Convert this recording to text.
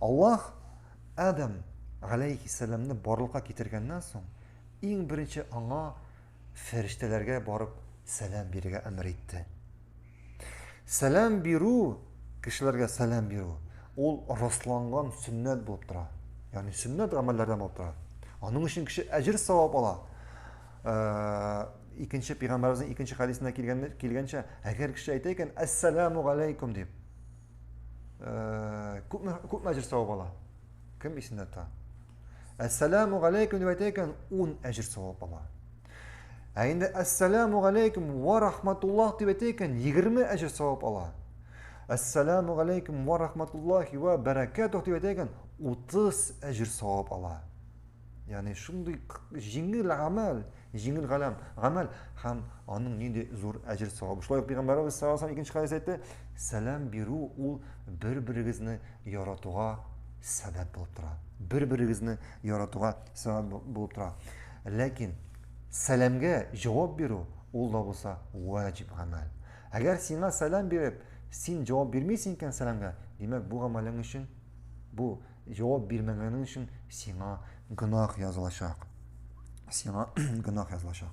Аллаһ Адам галәйһиссәламне барлыкка китергәннән соң, иң беренче аңа фәрештәләргә барып сәлам бирергә әмер итте. Сәлам бирү, кешеләргә сәлам бирү, ул расланган сөннәт булып тора. Ягъни сөннәт гамәлләрдән булып тора. Аның өчен кеше әҗер савап ала. Э, икенче пәйгамбәребезнең икенче хәдисендә килгәнчә, әгәр кеше әйтә икән, "Ассаламу алейкум" дип, Э, күпме күпме әҗер савап ала? Кем исендә тота? Әссәламу галәйкүм дип әйтә икән, 10 әҗер савап ала. Ә инде әссәламу галәйкүм ва рахматуллах дип әйтә икән, 20 әҗер савап ала. Әссәламу галәйкүм ва рахматуллахи ва бәрәкәтүх дип әйтә икән, 30 әҗер савап ала. Ягъни шундый җиңел гамәл, Җиңел галәм, гамәл һәм аның нинди зур әҗер савабы. Шулай ук Пәйгамбәребез саллаллаху алейһи икенче хәдис әйтте, сәлам бирү ул бер-берегезне яратуга сәбәп булып тора. Бер-берегезне яратуга сәбәп булып тора. Ләкин сәламгә җавап бирү ул да булса ваҗиб гамәл. Әгәр сиңа сәлам биреп, син җавап бирмисең икән сәламгә, димәк бу гамәлең өчен бу Җавап бирмәгәнең өчен сиңа гөнаһ язылачак. Сиңа гөнаһ язылачак.